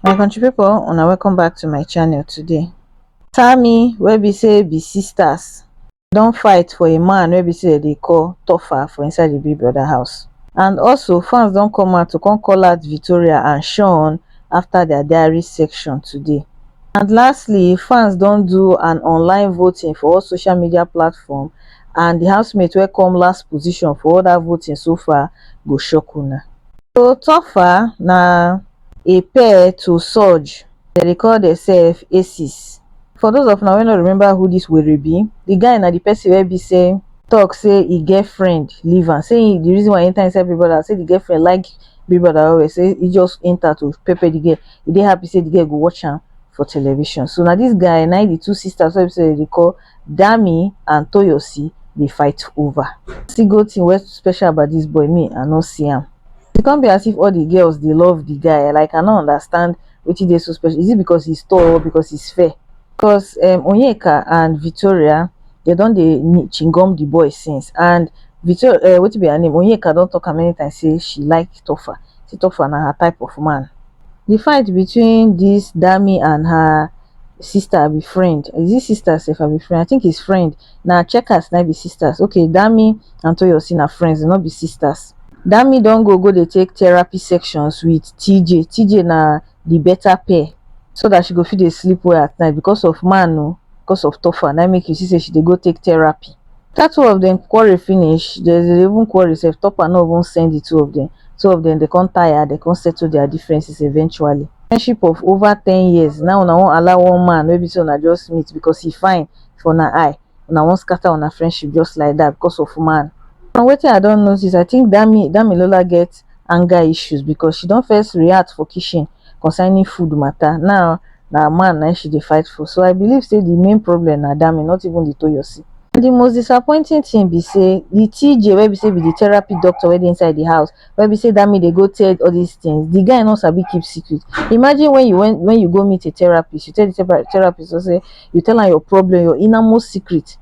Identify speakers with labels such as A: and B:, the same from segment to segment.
A: my country people una welcome back to my channel today Tammy wey be say be sisters don fight for a man wey be say they call Tofa for inside the big brother house and also fans don come out to come call out Victoria and Sean after their diary section today and lastly fans don do an online voting for all social media platform and the housemate wey come last position for all that voting so far go shock una. So Tofa na a pair to Surge, dem dey call themselves aces. For those of una wey no remember who this were be, the guy na the person wey be say talk say e girlfriend leave am, say him the reason why e enter inside Big Brother say the girlfriend like Big Brother well well say e just enter to pepper the girl, e dey happy say the girl go watch am for television. So na this guy na him the two sisters wey be say dem dey call Dami and Toyosi dey fight over. See go thing wey special about this boy me I no see am. E come be as if all the girls dey love the guy like I no understand wetin dey so special is it because he's tall or because he's fair cos um Onyeka and Victoria dem don dey chingom the boy since and Victor um wetin be her name Onyeka don talk am many times say she like Tofa say Tofa na her type of man. The fight between this Dami and her sister abi friend is it sister sef abi friend i think is friend na checkers na be sisters okay dami and toyosi na friends no be sisters dami don go go dey take therapy sections with tj tj na the better pair so that she go fit dey sleep well at night because of man o because of tofa na make you see say she dey go take therapy After two of dem quarrel finish, dem dey even quarrel sef, Topper no even send the two of dem, two of dem dey come tire, dey come settle their differences eventually. Friendship of over ten years, now una wan allow one man wey be say una just meet because he fine for una eye, una wan scatter una friendship just like that because of man. From wetin I don notice, I think Dami, Damilola get anger issues because she don first react for kitchen concerning food matter now na man na im she dey fight for so I believe say the main problem na Dami not even the Toyosi and the most disappointing thing be say the TJ wey be say be the therapy doctor wey dey inside the house wey be say Dami dey go tell all this things the guy no sabi keep secret imagine when you when you go meet a therapist you tell the therapist just say you tell am your problem your inner most secret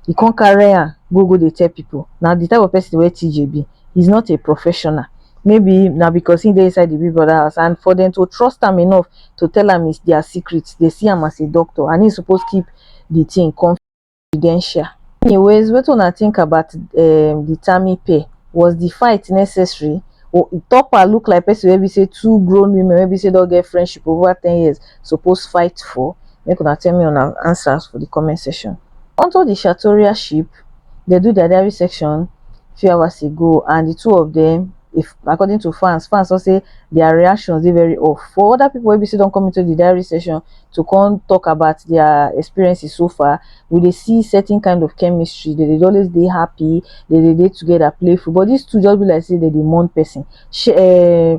A: you come carry am go go dey tell people na the type of person wey TJ be he's not a professional maybe now because he dey inside the big brother house and for them to trust him enough to tell him is their secret they see him as a doctor and he's supposed to keep the thing confidential anyways what when i think about um, the tammy pay was the fight necessary or topper look like person Maybe say two grown women Maybe say don't get friendship over 10 years suppose fight for make una tell me on answers for the comment section onto the shatoria ship dem do their diary section few hours ago and the two of them if according to fans fans don say their reactions dey very off for other people wey be say don come into the diary session to come talk about their experiences so far we dey see certain kind of chemistry they dey always dey happy they dey dey together playful but these two just be like say they dey mourn person she, uh,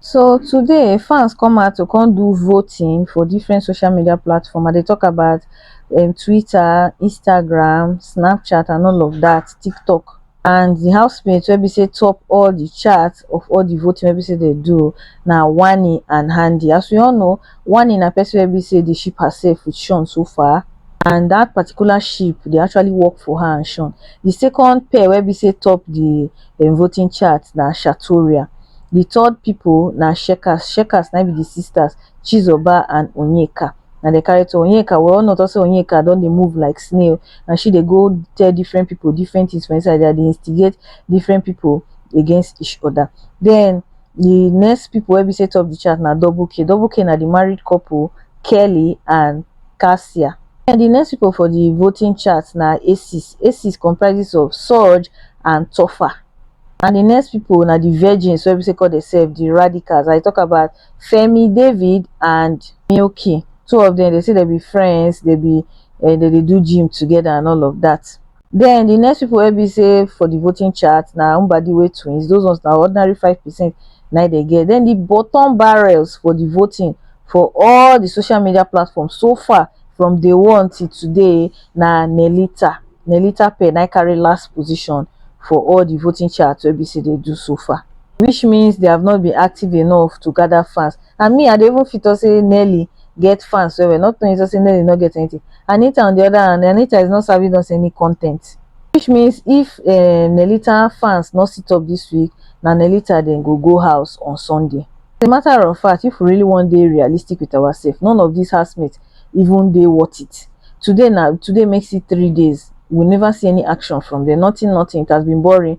A: So today fans come out to come do voting for different social media platform. I dey talk about um, Twitter, Instagram, Snapchat, and all of that, TikTok. And the housemates wey be say top all the charts of all the voting wey be say they do na Wani and Handy. As we all know, Wani na person wey be say dey ship herself with Sean so far. And that particular ship dey actually work for her and Sean. The second pair wey be say top the dem voting chart na shatoria di third pipo na checkers checkers na im be di sisters chizoba and onyeka na dem carry turn onyeka we all know on top say onyeka don dey move like snail na she dey go tell different pipo different tins for inside dia dey instigate different pipo against each oda den di next pipo wey be say top di chart na double k double k na di married couple kelly and Cassia. And di next pipo for di voting chart na Aces. Aces comprises of Surge and Topher. And di next pipo na di virgins wey be say call demsef di Radicals. I tok about Femi, David and Milky. Two of dem, dem say dem be friends, dem be um dem dey do gym togeda and all of dat. Den di next pipu wey be sey for di voting chart na Mbadiwe twins, doz ones na ordinary five percent na im dem get. Den di bottom barrels for di voting for all di social media platform so far from day one till today na Nellita, Nellita Pearl na im carry last position for all di voting chart wey be sey dem do so far. Which means they have not been active enough to gather fans. and me I dey even fit talk say Nelly get fans well well not knowing just say Nelly no get anything Anita on the other hand Anita is not serving us any content which means if um Nellita fans no sit up this week na Nellita dem go go house on Sunday as a matter of fact if we really wan dey realistic with ourselves none of these housemates even dey worth it today na today makes it three days we never see any action from them nothing nothing it has been boring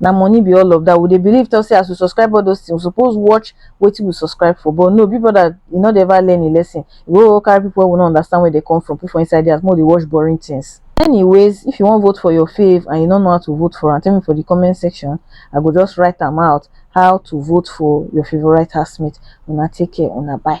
A: na money be all of that we dey believe talk say as we subscribe all those things we suppose watch wetin we subscribe for but no big brother you no dey ever learn a lesson you go carry people wey we no understand where they come from put for inside there as more dey watch boring things anyways if you wan vote for your fave and you no know how to vote for am tell me for the comment section i go just write am out how to vote for your favorite housemate una take care una bye